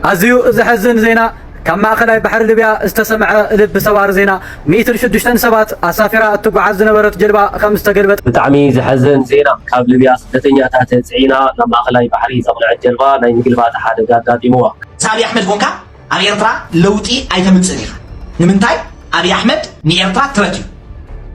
ኣዝዩ ዘሕዝን ዜና ካብ ማእከላይ ባሕሪ ሊብያ ዝተሰምዐ ልቢ ሰባሪ ዜና፣ ሚእትን ሽዱሽተን ሰባት ኣሳፊራ እትጓዓዝ ዝነበረት ጀልባ ከም ዝተገልበጠ። ብጣዕሚ ዘሕዝን ዜና ካብ ልብያ ስደተኛታት ጽዒና ናብ ማእከላይ ባሕሪ ዘቕነዐት ጀልባ ናይ ምግልባጥ ሓደጋ ኣጋጢምዋ። ምስ ኣብይ ኣሕመድ ኮንካ ኣብ ኤርትራ ለውጢ ኣይተምጽእን ኢኻ ንምንታይ ኣብይ ኣሕመድ ንኤርትራ ትረት እዩ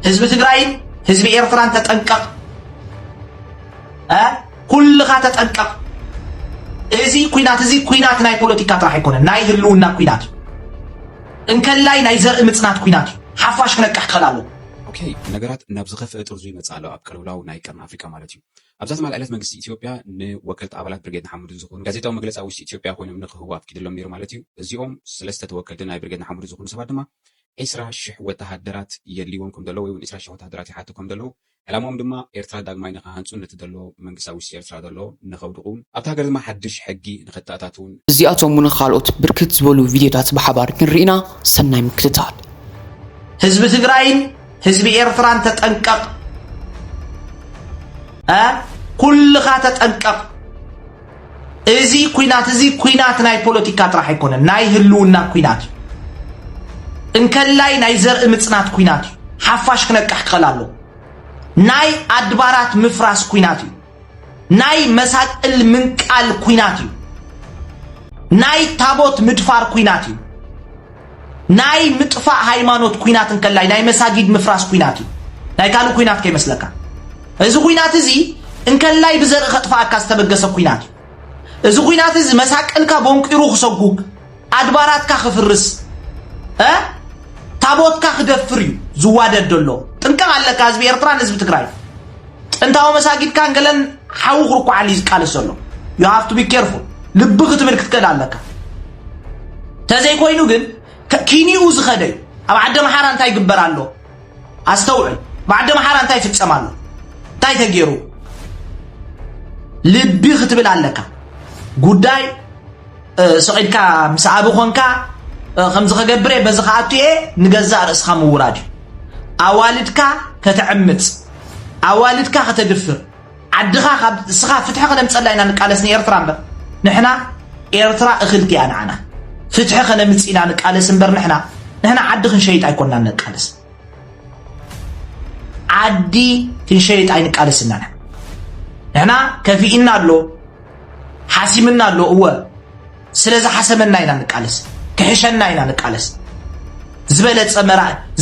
ህዝቢ ትግራይን ህዝቢ ኤርትራን ተጠንቀቅ እ ኩልኻ ተጠንቀቕ እዚ ኩናት እዚ ኩናት ናይ ፖለቲካ ጥራሕ ኣይኮነን ናይ ህልውና ኩናት እዩ እንከላይ ናይ ዘርኢ ምጽናት ኩናት እዩ ሓፋሽ ክነቅሕ ክኸል ኣለዎ ኦኬ ነገራት ናብ ዝኸፍአ ጥርዙ ይመጽእ ኣሎ ኣብ ቅልውላው ናይ ቀርኒ ኣፍሪቃ ማለት እዩ። ኣብዛ ትማል ዕለት መንግስቲ ኢትዮጵያ ንወከልቲ ኣባላት ብርጌድ ንሓመዱን ዝኾኑ ጋዜጣዊ መግለፂ ኣብ ውሽጢ ኢትዮጵያ ኮይኖም ንክህቡ ኣፍቂድሎም ነይሩ ማለት እዩ። እዚኦም ሰለስተ ተወከልቲ ናይ ብርጌድ ንሓመዱ ዝኾኑ ሰባት ድማ ዒስራ ሽሕ ወተሃደራት የድልይዎም ከም ዘለዉ ወይ እውን ዒስራ ሽሕ ወተሃደራት ይሓቱ ከም ዘለዉ ዕላምኦም ድማ ኤርትራ ዳግማይ ንክሃንጹን ነቲ ዘሎ መንግስቲ ኣብ ውሽጢ ኤርትራ ዘሎ ንከውድቑን ኣብታ ሃገር ድማ ሓድሽ ሕጊ ንከተኣታትዉን እዚኣቶምን ካልኦት ብርክት ዝበሉ ቪድዮታት ብሓባር ክንርኢና ሰናይ ምክትታል። ህዝቢ ትግራይን ህዝቢ ኤርትራን ተጠንቀቅ ኩልኻ ተጠንቀቅ። እዚ ኩናት እዚ ኩናት ናይ ፖለቲካ ጥራሕ ኣይኮነን፣ ናይ ህልውና ኩናት እዩ። እንከላይ ናይ ዘርኢ ምፅናት ኩናት እዩ። ሓፋሽ ክነቅሕ ክኸል ኣሎ። ናይ ኣድባራት ምፍራስ ኩናት እዩ። ናይ መሳቅል ምንቃል ኩናት እዩ። ናይ ታቦት ምድፋር ኩናት እዩ። ናይ ምጥፋእ ሃይማኖት ኩናት እንከላይ ናይ መሳጊድ ምፍራስ ኩናት እዩ ናይ ካልእ ኩናት ከይመስለካ እዚ ኩናት እዚ እንከላይ ብዘርኢ ከጥፋኣካ ዝተበገሰ ኩናት እዩ እዚ ኩናት እዚ መሳቀልካ ቦንቂሩ ክሰጉግ ኣድባራትካ ክፍርስ ታቦትካ ክደፍር እዩ ዝዋደድ ዘሎ ጥንቀቕ ኣለካ ህዝቢ ኤርትራን ህዝቢ ትግራይ ጥንታዊ መሳጊድካን ገለን ሓዊ ክርኩዓሉ እዩ ዝቃለስ ዘሎ ዩ ሃፍቱ ቢ ኬርፉል ልቢ ክትብል ክትክእል ኣለካ ተዘይኮይኑ ግን ኪኒኡ ዝኸደ እዩ ኣብ ዓደ መሓራ እንታይ ይግበር ኣሎ ኣስተውዕል ብዓደ መሓራ እንታይ ይፍፀም ኣሎ እንታይ ተገይሩ ልቢ ክትብል ኣለካ ጉዳይ ስዒድካ ምስ ኣብ ኮንካ ከምዚ ከገብር እየ በዚ ከኣቱ እየ ንገዛእ ርእስኻ ምውራድ እዩ ኣዋልድካ ከተዕምፅ ኣዋልድካ ከተድፍር ዓድኻ ካብ እስኻ ፍትሒ ከነምጸላ ኢና ንቃለስ ንኤርትራ እምበር ንሕና ኤርትራ እኽልቲ እያ ንዓና ፍትሒ ከነምጽ ኢና ንቃለስ እምበር ንሕና ንሕና ዓዲ ክንሸይጥ ኣይኮናን ንቃለስ ዓዲ ክንሸይጥ ኣይንቃለስ ኢና ንሕና ከፊእና ኣሎ ሓሲምና ኣሎ እወ ስለዚ ሓሰመና ኢና ንቃለስ ክሕሸና ኢና ንቃለስ ዝበለጸ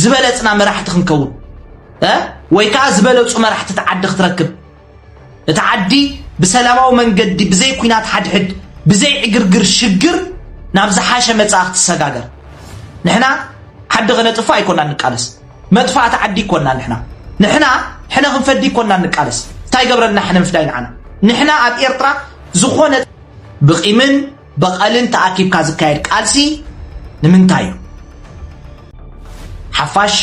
ዝበለጽና መራሕቲ ክንከውን ወይ ከዓ ዝበለፁ መራሕቲ እቲ ዓዲ ክትረክብ እቲ ዓዲ ብሰላማዊ መንገዲ ብዘይ ኩናት ሓድሕድ ብዘይ ዕግርግር ሽግር ናብ ዝሓሸ መፃኢ ክትሰጋገር ንሕና ዓዲ ከነጥፍእ ኣይኮና ንቃለስ መጥፋእቲ ዓዲ ይኮና ንሕና ንሕና ሕነ ክንፈዲ ይኮና ንቃለስ እንታይ ገብረልና ሕነ ምፍዳይ ንዓና ንሕና ኣብ ኤርትራ ዝኾነ ብቂምን በቐልን ተኣኪብካ ዝካየድ ቃልሲ ንምንታይ እዩ? ሓፋሽ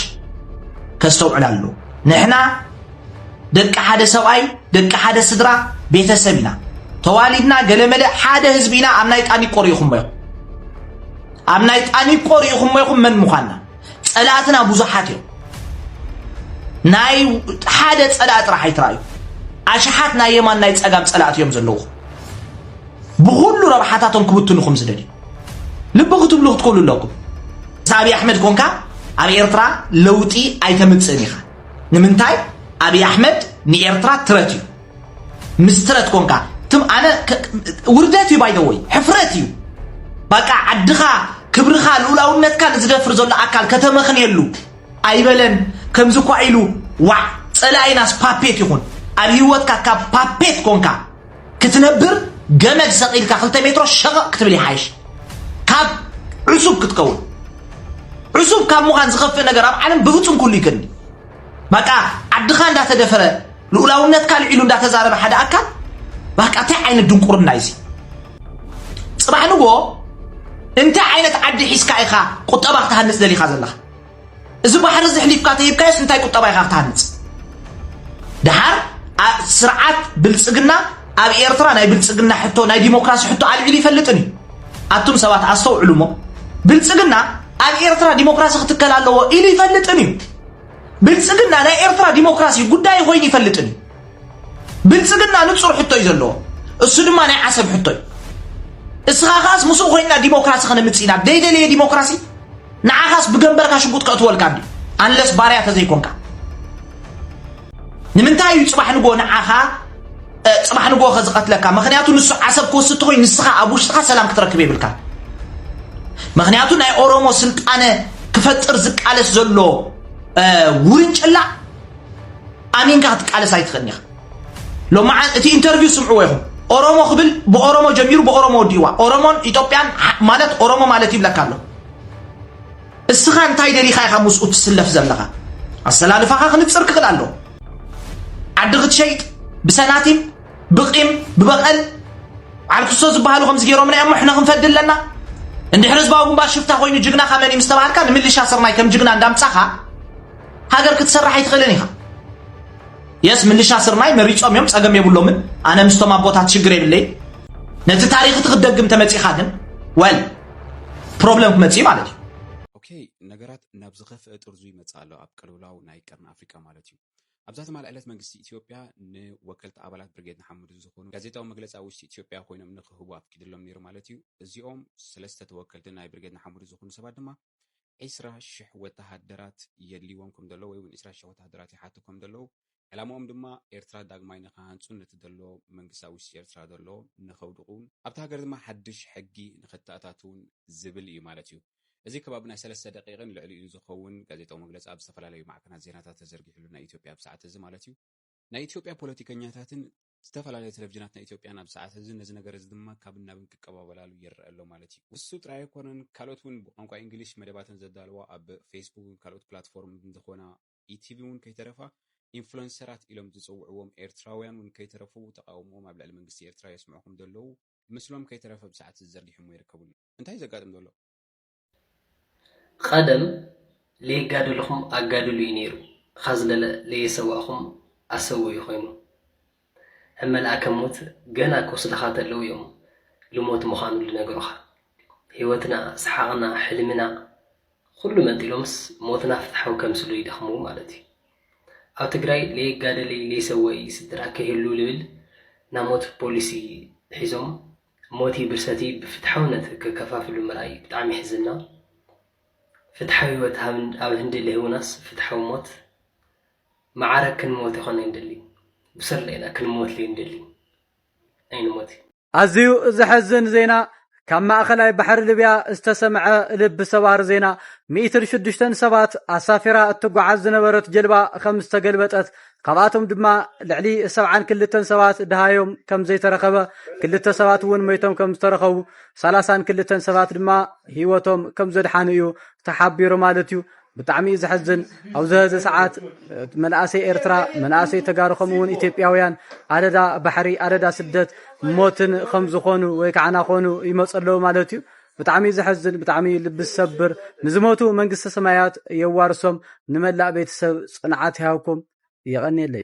ከስተውዕል ኣለዎ። ንሕና ደቂ ሓደ ሰብኣይ፣ ደቂ ሓደ ስድራ፣ ቤተሰብ ኢና። ተዋሊድና ገለመለ ሓደ ህዝቢ ኢና ኣብ ናይ ጣኒቆ ርኢኹሞ ኢኹም ኣብ ናይ ጣኒቆ ርኢኹሞ ኢኹም መን ምዃንና ጸላእትና ብዙሓት እዮም ናይ ሓደ ጸላእ ጥራሕ ኣይትረኣዩ ኣሽሓት ናይ የማን ናይ ጸጋም ጸላእቲ እዮም ዘለዉ ብኹሉ ረብሓታቶም ክብትኑኹም ዝደልዩ ልቢ ክትብሉ ክትክእሉ ኣለኩም ምስ ኣብዪ ኣሕመድ ኮንካ ኣብ ኤርትራ ለውጢ ኣይተምፅእን ኢኻ ንምንታይ ኣብዪ ኣሕመድ ንኤርትራ ትረት እዩ ምስ ትረት ኮንካ ትም ኣነ ውርደት እዩ ባይደወይ ሕፍረት እዩ በቃ ዓድኻ ክብርኻ ልኡላውነትካ ንዝደፍር ዘሎ ኣካል ከተመኽንየሉ ኣይበለን ከምዚ እኳ ኢሉ ዋዕ ፀላኢናስ ፓፔት ይኹን ኣብ ሂወትካ ካብ ፓፔት ኮንካ ክትነብር ገመድ ሰቒልካ ክልተ ሜትሮ ሸቐቕ ክትብል ይሓይሽ ካብ ዕሱብ ክትከውን ዕሱብ ካብ ምዃን ዝኸፍእ ነገር ኣብ ዓለም ብፍጹም ኩሉ ይከኒ በቃ ዓድኻ እንዳተደፈረ ልኡላውነትካ ልዒሉ እንዳተዛረበ ሓደ ኣካል በቃ እንታይ ዓይነት ድንቁርና እዩ ፅባሕ ንጎ እንታይ ዓይነት ዓዲ ሒዝካ ኢኻ ቁጠባ ክትሃንፅ ደሊኻ ዘለኻ እዚ ባሕሪ እዚ ሕሊፍካ ተሂብካዮስ እንታይ ቁጠባ ኢኻ ክትሃንፅ ድሓር ስርዓት ብልፅግና ኣብ ኤርትራ ናይ ብልፅግና ሕቶ ናይ ዲሞክራሲ ሕቶ ኣልዒሉ ይፈልጥን እዩ ኣቱም ሰባት ኣስተውዕሉ እሞ ብልፅግና ኣብ ኤርትራ ዲሞክራሲ ክትከል ኣለዎ ኢሉ ይፈልጥን እዩ ብልፅግና ናይ ኤርትራ ዲሞክራሲ ጉዳይ ኮይኑ ይፈልጥን እዩ ብልፅግና ንፁር ሕቶ እዩ ዘለዎ እሱ ድማ ናይ ዓሰብ ሕቶ እዩ እስኻ ከዓስ ምስኡ ኮይንና ዲሞክራሲ ከነምፅ ኢና ደይደለየ ዲሞክራሲ ንዓኻስ ብገንበርካ ሽጉጥ ከእትወልካ እንድዩ ኣንለስ ባርያ ተዘይኮንካ ንምንታይ እዩ ፅባሕ ንጎ ንዓኻ ፅባሕ ንጎ ከዝቐትለካ ምክንያቱ ንሱ ዓሰብ ክወስድ ተኮይ ንስኻ ኣብ ውሽጥኻ ሰላም ክትረክብ የብልካ ምክንያቱ ናይ ኦሮሞ ስልጣነ ክፈጥር ዝቃለስ ዘሎ ውርንጭላ ኣሚንካ ክትቃለስ ኣይትኽእልን ኢኻ ሎማዓንቲ እቲ ኢንተርቪው ስምዕዎ ኢኹም ኦሮሞ ክብል ብኦሮሞ ጀሚሩ ብኦሮሞ ወዲእዋ ኦሮሞን ኢትዮጵያን ማለት ኦሮሞ ማለት ይብለካ ኣሎ እስኻ እንታይ ደሊኻ ኢኻ ምስኡ ትስለፍ ዘለኻ ኣሰላልፋኻ ክንፅር ክኽእል ኣሎ ዓዲ ክትሸይጥ ብሰናቲም ብቂም ብበቐል ዓልክሶ ዝበሃሉ ከምዚ ገይሮምና እዮም ሕነ ክንፈዲ ኣለና እንድሕር ህዝባዊ ግንባር ሽፍታ ኮይኑ ጅግናኻ መን እዩ ምስተባሃልካ ንምልሻ ስርናይ ከም ጅግና እንዳምፃኻ ሃገር ክትሰርሕ ኣይትኽእልን ኢኻ የስ ምልሻ ስርናይ መሪጾም እዮም ጸገም የብሎምን ኣነ ምስቶም ኣቦታት ሽግር የብለይ ነቲ ታሪክ እቲ ክትደግም ተመጺኻ ግን ወል ፕሮብለም ክመጽ ማለት እዩ ኦኬ ነገራት ናብ ዝኸፍአ ጥርዙ ይመጽ ኣሎ ኣብ ቅልውላው ናይ ቀርኒ ኣፍሪቃ ማለት እዩ ኣብዛ ትማል ዕለት መንግስቲ ኢትዮጵያ ንወከልቲ ኣባላት ብርጌድ ንሓመዱ ዝኾኑ ጋዜጣዊ መግለፂ ኣብ ውሽጢ ኢትዮጵያ ኮይኖም ንክህቡ ኣፍቂድሎም ነይሩ ማለት እዩ እዚኦም ሰለስተ ተወከልቲ ናይ ብርጌድ ንሓመዱ ዝኾኑ ሰባት ድማ ዕስራ ሽሕ ወተሃደራት የድልይዎም ከም ዘሎ ወይ'ውን ዕስራ ሽሕ ወተሃደራት ይሓቱ ከም ዘለዉ፣ ዕላማኦም ድማ ኤርትራ ዳግማይ ንኽሃንጹን ነቲ ዘሎ መንግስቲ ኣብ ውሽጢ ኤርትራ ዘሎ ንኸውድቑ፣ ኣብታ ሃገር ድማ ሓድሽ ሕጊ ንኸተኣታትዉን ዝብል እዩ ማለት እዩ። እዚ ከባቢ ናይ ሰለስተ ደቒቕን ልዕሊኡን ዝኸውን ጋዜጣዊ መግለጺ ኣብ ዝተፈላለዩ ማዕከናት ዜናታት ተዘርጊሕሉ፣ ናይ ኢትዮጵያ ኣብ ሰዓት'ዚ ማለት እዩ፣ ናይ ኢትዮጵያ ፖለቲከኛታትን ዝተፈላለያ ተለቪዥናት ናይ ኢትዮጵያን ኣብዚ ሰዓት እዚ ነዚ ነገር እዚ ድማ ካብን ናብን ክቀባበላሉ ይረኣ ኣሎ ማለት እዩ። ንሱ ጥራይ ኣይኮነን ካልኦት እውን ብቋንቋ ኢንግሊሽ መደባተን ዘዳልዋ ኣብ ፌስቡክን ካልኦት ፕላትፎርምትን ዝኾና ኢቲቪ እውን ከይተረፋ ኢንፍሎንሰራት ኢሎም ዝጽውዕዎም ኤርትራውያን እውን ከይተረፉ ተቓውምኦም ኣብ ልዕሊ መንግስቲ ኤርትራ የስምዑ ከምዘለዉ ምስሎም ከይተረፈ ኣብዚ ሰዓት እዚ ዘርጊሖምዎ ይርከቡ። እንታይ እዩ ዘጋጥም ዘሎ? ቐደም ለየጋደልኹም ኣጋድሉ እዩ ነይሩ ኻዝ ለየሰዋእኹም ኣሰው እዩ ኾይኑ እብ መልኣከ ሞት ገና ክወስድኻ ተለው እዮም ልሞት ምዃኑ ልነግሩኻ ህይወትና ሰሓቕና ሕልምና ኹሉ መንጢሎምስ ሞትና ፍትሓዊ ከምስሉ ይደኽሙ ማለት እዩ ኣብ ትግራይ ለየጋደለይ ለይሰወእይ ስድራ ከይህሉ ልብል ናሞት ፖሊሲ ሒዞም ሞቲ ብርሰቲ ብፍትሓውነት ክከፋፍሉ ምርኣይ ብጣዕሚ የሕዝና ፍትሓዊ ህይወት ኣብ ህንዲ ለሂቡናስ ፍትሓዊ ሞት መዓረ ክንሞት ይኾን ኣይንደሊ ብስርለ ኢና ክንሞት ለይንደሊ ኣይንሞት ኣዝዩ ዘሕዝን ዜና ካብ ማእኸላይ ባሕሪ ልብያ ዝተሰምዐ ልቢ ሰባሪ ዜና ሚእትን ሽዱሽተን ሰባት ኣሳፊራ እትጓዓዝ ዝነበረት ጀልባ ከም ዝተገልበጠት ካብኣቶም ድማ ልዕሊ ሰብዓን ክልተን ሰባት ድሃዮም ከም ዘይተረኸበ ክልተ ሰባት እውን መይቶም ከም ዝተረኸቡ ሰላሳን ክልተን ሰባት ድማ ሂወቶም ከም ዘድሓኑ እዩ ተሓቢሩ ማለት እዩ ብጣዕሚ እዩ ዘሐዝን ኣብዚ ሀዚ ሰዓት መናእሰይ ኤርትራ መናእሰይ ተጋሩ ከምኡ እውን ኢትዮጵያውያን ኣደዳ ባሕሪ ኣደዳ ስደት ሞትን ከም ዝኾኑ ወይ ከዓ ናኾኑ ይመፁ ኣለዉ ማለት እዩ ብጣዕሚ ዘሕዝን ብጣዕሚ ልቢ ዝሰብር ንዝሞቱ መንግስተ ሰማያት የዋርሶም ንመላእ ቤተሰብ ፅንዓት ይሃብኩም የቀንየለይ።